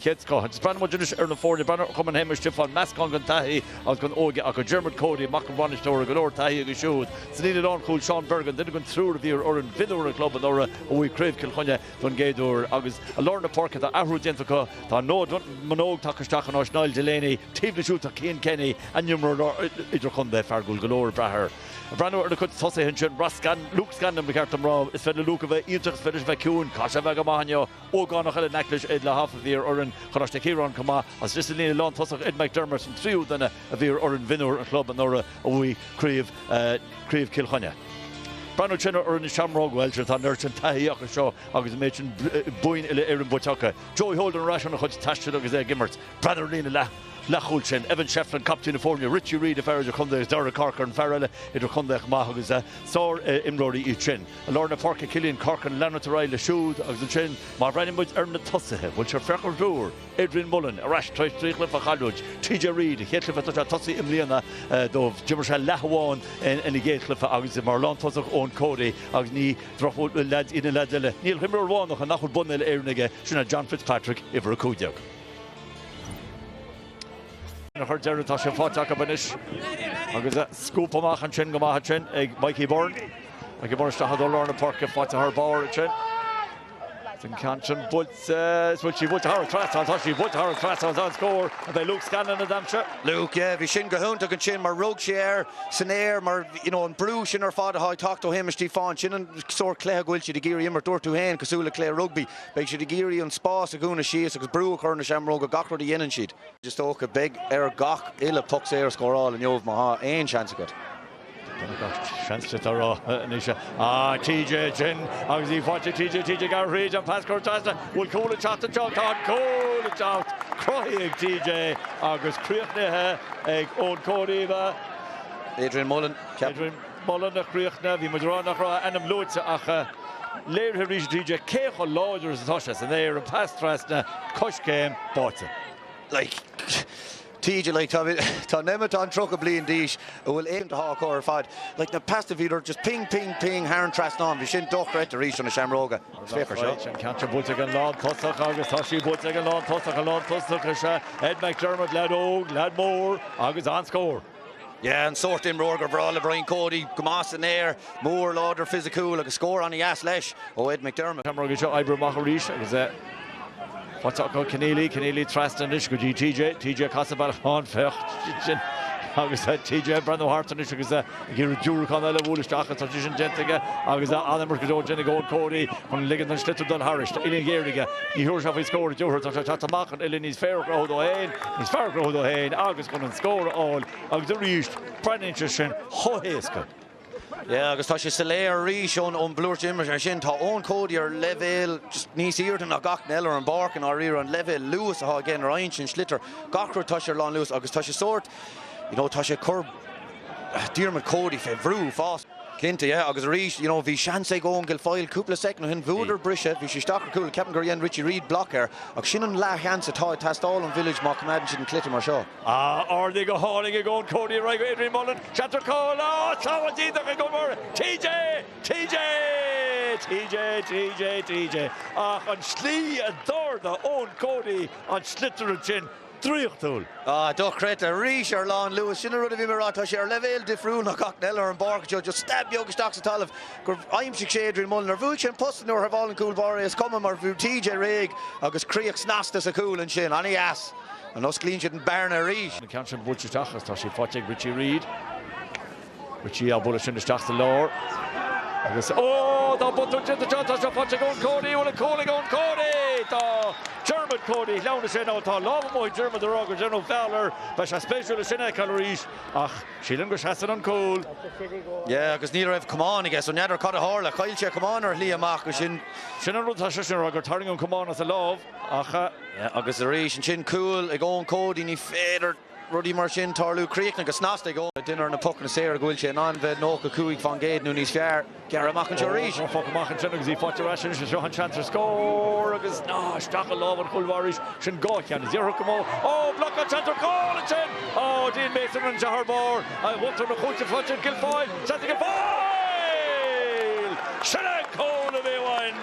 chéad scoth, agus breathnaímid anois ar na foirne breathnú ar Chumann Shéamuis Stiofáin, meascán den taithí agus den óige acu, Diarmuid Cody, mac an bhainisteora, go leor taithí aige siúd, san líne lánchúil Seán Bergin, duine den triúr a bhí ar fhoireann mhionúir an chlub anuraidh a bhuaigh Craobh Chill Chainnigh don gcéad uair, agus i lár na páirce tá athrú déanta acu, tá Noah Manogue tagtha isteach in áit Niall Delaney, taobh leis siúd tá Cian Kenny, a n-imreoir idirchontae, fear a bhfuil go leor ag brath air breathnú ar na cuid tosaithe ansin, Ross Scanlon, Luke Scanlon ba cheart dom rá, is féidir le Luke a bheith iontach is féidir leis a bheith ciúin, caithfidh sé a bheith go maith inniu. ógánach eile in aice leis, Ed Lauhoff, a bhí ar fhoireann Choláiste Chiaráin chomh maith. Agus sa líne lántosach, Ed McDermott an tríú duine a bhí ar fhoireann mhionúir an chlub anuraidh a bhuaigh Craobh Chill Chainnigh. Breathnú ansin ar fhoireann na Seamróg, bhuel, sure, tá neart an taithí acu seo agus an méid sin boinn uile-Éireann buaite acu. Joey Holden ar ais óna chuid taistil agus é ag imirt. Breathnú ar líne leathchúil ansin, Evan Shefflin, captaen na foirne, Richie Reid, an fear idir-chontae, agus Darragh Corcoran, fear eile idir-chontae chomh maith agus sár-imreoirí iad sin. I lár na páirce Killian Corcoran leanúint ar aghaidh leis siúd agus ansin má bhreathnaíonn muid ar na tosaithe bhuel sure féach ar an triúr, Adrian Mullen ar ais tar éis trí chluiche a chailliúint, TJ Reid a chéad chluiche ag tosaí i mbliana dóibh, d'imir sé leath amháin ina gcéad chluiche agus mar lántosach Eoin Cody agus ní droch, bhuel, leaids iad na leaids eile. Níl ach imreoir amháin acu nach bhfuil bonn uile-Éireann aige, sin ná John Fitzpatrick, uimhir 15. Ar deireadh tá sé faighte acu anois agus scuab amach ansin go maith ansin ag Mikey Byrne. Mikey Byrne isteach i dtreo lár na páirce, faighte thar barr ansin. An ceann sin buailte, an bhfuil sí buailte thar an trasnán, tá sí buailte thar an trasnán, an-scór, an é Luke Scanlon a d'aimsigh? Luke, yeah, bhí sin go hiontach ansin mar rug sé air san aer mar, you know, an brú sin ar fad atá ag teacht ó Shéamus Stiofáin, sin an sórt cluiche go bhfuil siad ag iarraidh imirt, dúirt tú féin, cosúil le cluiche rugbaí, beidh siad ag iarraidh an spás a dhúnadh síos agus brú a chur ar na seamróga gach rud a dhéanann siad. Is dócha beidh ort gach uile poc saor a scóráil inniu, má tá aon seans agat. Tá gach seans agat a rá anois. Ahh TJ ansin agus í faighte TJ TJ ag gabháil thríd an pas curtha trasna. Bhfuil cúl ag teacht anseo? Tá an cúl ag teacht. Cruthaithe ag TJ agus críochnaithe ag Eoin Cody, ab ea? Adrian Mullen ceapaim. Adrian Mullen a chríochnaigh. Bhí muid ag rá nach raibh a ainm luaite ach léirithe arís ag TJ cé chomh láidir is atá sé san aer, an pas trasna, coiscéim, báite. Like. TJ, like, tá tá Nemeton tríocha bliain d'aois a bhfuil éiginnte thá á chur ar fad, like, na peasta bhíodar just ping ping ping thar an trasnán bhí sin dochreidte arís ó na seamróga. Is féach ar seo. Tá an ceann sin buailte ag an lán tosach agus tá sí buailte ag an lán tosach an lán tosach is ea Ed McDermott, leaid óg, leaid mór agus an-scór. Yeah an sórt imreoir gur bhreá le Brian Cody, go maith san aer, mór, láidir, fisiciúil agus scór ana dheas leis ó Ed McDermott. Shamrocks seo ag oibriú amach arís agus é faighte acu. Kenneally, Kenneally trasna anois go dtí TJ, TJ casadh bealach ann féach sin agus é TJ ag breathnú thart anois agus é ag iarraidh diúracán eile a bhualadh isteach agus tá sé sin déanta aige agus an-imirt go deo déanta ag Eoin Cody chun ligean don sliotar dul thairis. Tá uillinn ghéar aige, ní thiúrfaidh sé faoi scór an dtiúrfaidh, tá sé ag teacht amach chun uillinn níos fearr a chruthú dó féin. Is fearr a chruthú dó féin agus chun an scór a fháil agus arís breathnaíonn sé sin chomh héasca. Yeah agus tá sé soiléir arís ón ón mblúire imeartha sin, tá Eoin Cody ar leibhéal just níos aoirde ná gach duine eile ar an bpáirc i ndáiríre, an leibhéal luas atá aige nuair a fhaigheann sé an sliotar gach rud tá sé ar lánluas agus tá sé sórt you know tá sé ag cur Diarmuid Cody fé bhrú fós. Cinnte, yeah, agus arís, you know, bhí seans ag Eoin Guilfoyle cúpla soicind ó shin, bhuadar briseadh, bhí sé isteach ar cúl, ceapaim gur dhein Richie Reid block air, ach sin an leathsheans atá ag teastáil ón Village má choimeádann siad an cluiche mar seo. Ah, ardaithe go hálainn ag Eoin Cody ar aghaidh Adrian Mullen, seans ar chúl, ah, sábháilt iontach ag an gcúl báire, TJ! TJ! TJ! TJ! TJ! Ach an slí a d'ardaigh Eoin Cody an sliotar ansin, draíochtúil. Ah, dochreidte. Arís, ar lánluas. Sin an rud a bhí mé a rá, tá sé ar leibhéal difriúil ná gach duine eile ar an bpáirc anseo. Just stab beag isteach sa talamh gur aimsigh sé Adrian Mullen. Ar bhuail sé an post nó ar shábháil an cúl báire é? Is cuma, mar bhí TJ réidh agus críoch snasta sa chúl ansin. An-dheas. An osclaíonn siad an bhearna arís? An ceann sin buailte isteach agus tá sí faighte ag Richie Reid. Richie á bualadh sin isteach sa lár agus ó! Tá botún déanta anseo, tá seo faighte ag Eoin Cody, bhfuil an cúl ag Eoin Cody! Tá Diarmuid Cody ag leanúint sé ná tá lámh amuigh ag Diarmuid a rá gur déanadh foul air beidh sé spéisiúil é sin a fheiceáil arís ach sílim go seasann an cúl. Yeah agus ní raibh camán aige so n'fheadar cad a tharla, chaill sé an camán ar a shlí amach ansin. Sin an rud atá sé sin a rá gur tarraing an camán as a lámh ach. Yeah agus arís ansin cúl ag Eoin Cody ní féidir. rudaí mar sin tarlú, críochnaithe go snasta aige. duine ar na pocanna saora go bhfuil sé in ann bheith 95 fán gcéad nó níos fearr. Gearrtha amach anseo arís. An poc amach ansin agus í faighte ar ais anois. Seo an seans ar scór agus no, isteach i lámha an chúl báire arís. Sin dhá cheann anois curtha amú. Ó, blocáil seans ar chúl ansin! Ó, Dean Mason an deartháir mór a bhuailtear na cúite fliuch ag Guilfoyle. Seans ag Guilfoyle! Sin an cúl a bhí uainn!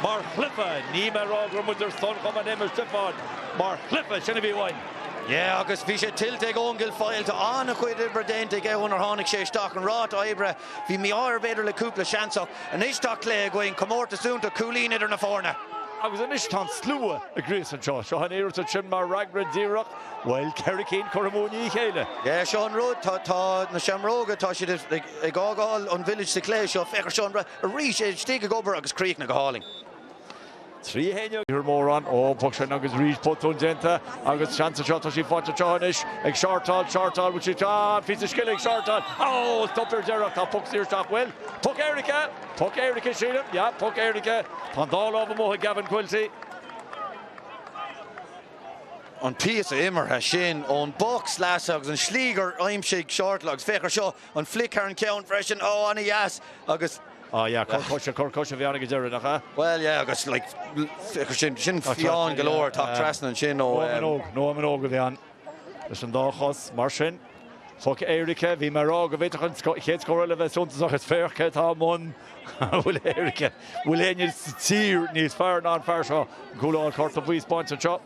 Mar chluiche, níl mé a rá go raibh muid ar son Chumann Shéamuis Stiofáin, mar chluiche, sin a bhí uainn. Yeah, agus bhí sé tuillte ag Eoin Guilfoyle. Tá an-chuid oibre déanta aige ón uair a tháinig sé isteach. An ráta oibre, bhí mí-ádh air b'fhéidir le cúpla seans ach anois tá cluiche againn, comórtas iontach, cúilín idir na foirne. Agus anois tá an slua ag gríosadh anseo. Seo an iarracht ansin mar fhreagra díreach, bhuel, ceithre cinn curtha amú i ndiaidh a chéile. Yeah, seo an rud, tá tá na Seamróga, tá siad ag fhágáil an village sa chluiche seo. Féach air seo, Eoin arís, é istigh ag obair agus críochnaithe go hálainn. Trí thine a bhí mórán. Ó, puc sin agus arís botún déanta agus seans anseo. Tá sí faighte anseo anois ag Shortall, Shortall, bhfuil sí anseo? Ah, píosa scil ag Shortall. Ó, stop ar deireadh. Tá puc saor isteach, bhuel? Puc éirice! Puc éirice, sílim. Yeah, puc éirice. Tá an dá lámh amuigh ag Gavin Quilty. An píosa imeartha sin ón bpoc sleasa agus an slí gur aimsigh Shortall agus féach ar seo, an flick thar an ceann freisin. Ó, ana dheas agus. Ah yeah, cur coise, cur coise bhí ann go deireadh, nach ea? Bhuel yeah, agus like sin, sin fiáin go leor ag teacht trasna ansin ó Noah Manogue, Noah Manogue a bhí ann leis an dá chos, mar sin. Poc éirice, bhí mé a rá go bhféadfadh an chéad scór eile a bheith suntasach is féach cé atá i mbun an phoic éirice, an bhfuil éinne sa tír níos fearr ná an fear seo, an cúl a fháil, cárta buí á spáint anseo.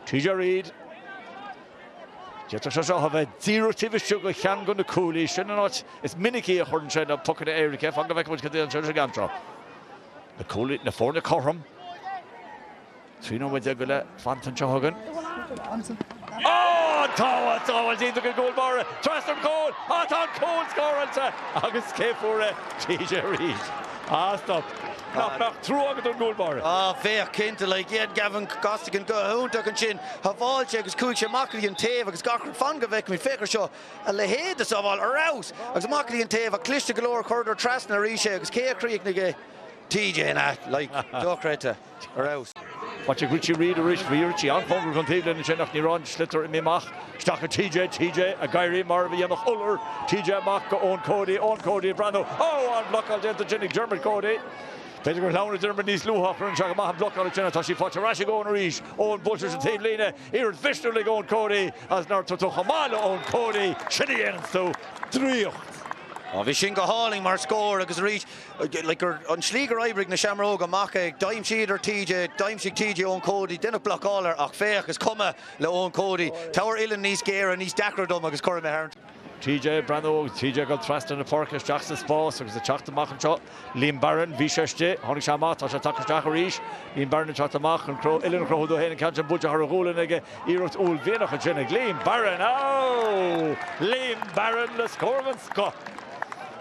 TJ Reid, d'fhéadfadh sé seo a bheith díreach taobh istigh de cheann de na cuaillí, sin an áit is minicí a chuireann sé na pocanna éirice fan go bhfeice muid cad dhéanann sé leis an gceann seo. Na cuaillí, na foirne cothrom, trí nóiméad déag go leith, fanta anseo chugainn. Á! An tsábháil déanta ag an gcúl báire trasna an chúil! Á tá an cúl scóráilte agus cé fuair é? TJ Reid. Á stop! Nach mbeadh trua agat don gcúl báire? Á, féach, cinnte, like, dhein Gavin Costigan go hiontach ansin, shábháil sé agus chuaigh sé amach go dtí an taobh agus gach rud, fan go bhfeicfimid, féach ar seo, a leithéid de shábháil, ar fheabhas! agus amach go dtí an taobh ach cliste go leor, chuireadar trasna arís é agus cé a chríochnaigh é? TJ, an ea? Like, dochreidte, ar fheabhas. Faighte ag Richie Reid arís. Bhí Richie an-chóngarach don taobhlíne ansin ach ní raibh an sliotar imithe amach. Isteach go TJ, TJ ag éirí mar a dhéanfadh iolar. TJ amach go Eoin Cody, Eoin Cody ag breathnú. Ó! An-bhlocáil déanta ansin ag Diarmuid Cody. B'fhéidir gur shleamhnaigh Diarmuid níos luaithe ach rinne sé go maith an bhlocáil ansin ach tá sí faighte ar ais ag Eoin arís. Eoin buailte leis an taobhlíne. Iarracht mhisniúil ag Eoin Cody agus nár tugadh chomh maith le Eoin Cody. Sin a dhéananns tú. Draíocht. Bhí sin go hálainn mar scór agus arís An tslí gur oibrigh na Seamróga amach é, d'aimsíodar TJ, d'aimsigh TJ Eoin Cody, deineadh blocáil air ach féach, is cuma le Eoin Cody. Tabhair uillinn níos géire, níos deacra dom agus cuirfidh mé thar. TJ ag breathnú, TJ ag dul trasna na páirce isteach sa spás agus ag teacht amach anseo. Liam Barron, bhí sé istigh, tháinig sé amach, tá sé ag teacht isteach arís. Liam Barron ag teacht amach chun cró uillinn a chruthú dó féin, an ceann sin buailte thar a ghualainn aige. Iarracht uaillmhianach ansin ag Liam Barron, Liam Barron le scór den scoth.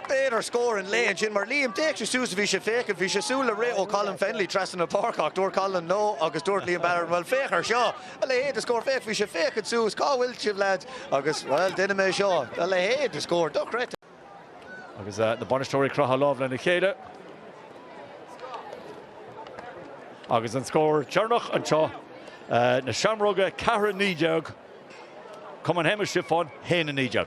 B'fhéidir scór an lae ansin mar Liam, d'fhéach sé suas, bhí sé féachaint, bhí sé súil le rith ó Colin Fennelly trasna na páirce ach dúirt Colin no agus dúirt Liam Barron bhuel féach ar seo, a leithéid de scór, féach, bhí sé féachaint suas, cá bhfuil sibh lads agus bhuel déanfaidh mé seo, a leithéid de scór, dochreidte. Agus na bainisteoirí ag croitheadh lámh lena chéile. Agus an scór deireanach anseo, na Seamróga 4-19, Cumann Shéamuis Stiofáin 1-19.